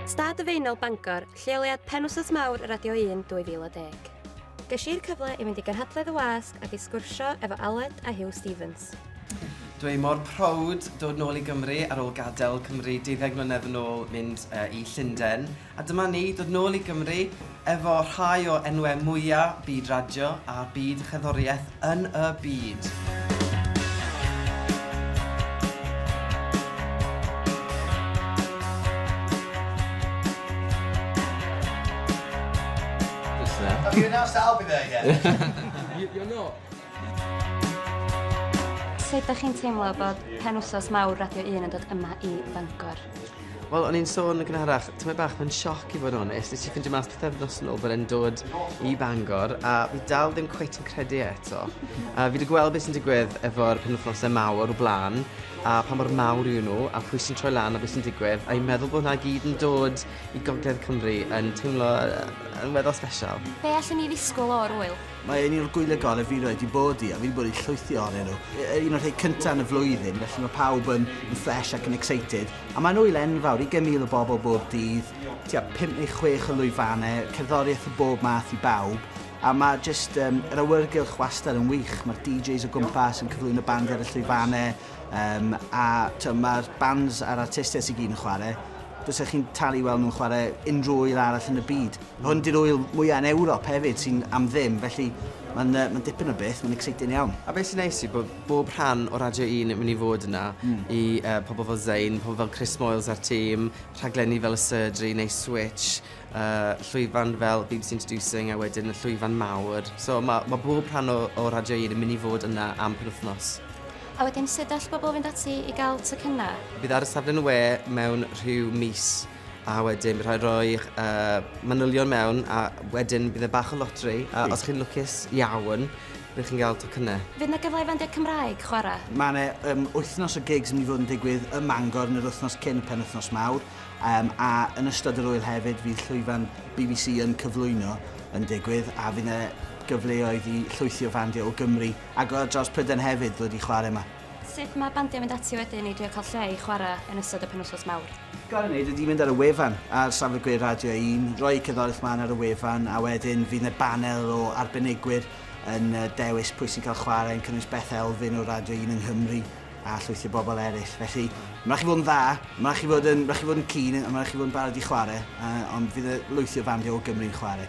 Stad y Feinel Bangor, lleoliad penwsos mawr Radio 1 2010. Ges i'r cyfle i fynd i gyrhadledd y wasg ac i sgwrsio efo Aled a Hugh Stevens. Dwi mor proud dod nôl i Gymru ar ôl gadael Cymru 12 mlynedd yn ôl mynd uh, i Llundain A dyma ni, dod nôl i Gymru efo rhai o enwau mwya' byd radio a byd y cherddoriaeth yn y byd. Have you announced that I'll be there yet? You're not. Sut ydych chi'n teimlo bod penwsos mawr Radio 1 yn dod yma i Bangor? Wel, o'n i'n sôn yn gynharach, tymed bach, mae'n sioc i fod yn onest. Nes i ffindio mas pythefnos yn ôl bod e'n dod i Bangor, a fi dal ddim cweit yn credu e eto. A fi wedi gweld beth sy'n digwydd efo'r penwthnosau mawr o blaen, a pa mor mawr yw nhw, a pwy sy'n troi lan a beth sy'n digwydd, a'i meddwl bod hwnna gyd yn dod i Gogledd Cymru yn teimlo yn weddol special. Be allwn ni ddisgwyl o'r wyl? Mae un o'r gwyliau gorau fi rioed 'di bod i a fi 'di bod i llwythi ohonyn nhw. Un o'r rhei cynta yn y flwyddyn, felly mae pawb yn yn fresh ac yn excited. A mae'n ŵyl enfawr, ugain mil o bobl bob dydd, tua pump neu chwech o lwyfannau, cerddoriaeth o bob math i bawb, a mae jyst yym yr awyrgylch wastad yn wych. Mae'r DJs o gwmpas yn cyflwyno bandiau ar y llwyfannau yym a t'o' ma'r bands a'r artistiaid sy gyd yn chwarae, fysa chi'n talu i weld nhw'n chwarae unrhyw ŵyl arall yn y byd. Hwn di'r ŵyl mwya yn Ewrop hefyd sy'n am ddim, felly mae'n yy mae'n dipyn o beth, mae'n exciting iawn. A be' sy'n neis yw bod bob rhan o Radio Un yn myn' i fod yna i yy pobol fel Zayn, pobol fel Chris Moyles a'r tîm, rhaglenni fel y Surgery neu Switch, yy llwyfan fel bbc Introducing a wedyn y llwyfan mawr. So ma' ma' bob rhan o o Radio Un yn myn' i fod yna am penwthnos. A wedyn sud all bobol fynd ati i ga'l tocynna? Bydd ar y safle'n y we mewn rhyw mis. A wedyn bydd rhaid rhoi'ch uh, manylion mewn a wedyn bydd e bach o lotri a os chi'n lwcus iawn bydd chi'n cael tocynnau. Fydd na gyfle i fandiau Cymraeg chwarae? Mae yna um, wythnos o gigs yn mynd i fod yn digwydd ym Mangor yn yr wythnos cyn y penwythnos mawr um, a yn ystod yr wyl hefyd fydd llwyfan BBC yn cyflwyno yn digwydd a fydd yna gyfleoedd i llwythi o fandiau o Gymru ac o dros Prydain hefyd ddod i chwarae yma. Sut mae bandiau yn mynd ati wedyn i drio cael lle i chwarae yn ystod y penwythnos mawr? Gael ei wneud ydy mynd ar y wefan ar safle gwe Radio Un, rhoi eu cerddoriaeth mlaen ar y wefan a wedyn fydd 'na banel o arbenigwyr yn dewis pwy sy'n cael chwarae, yn cynnwys Beth Elfyn o Radio Un yng Nghymru a llwythi o bobl eraill. Felly, mae'n rhaid chi fod yn dda, mae'n rhaid chi fod yn, rhaid chi fod yn keen a mae'n rhaid chi fod yn barod i chwarae, ond fydd 'na lwythi o fandiau o Gymru yn chwarae.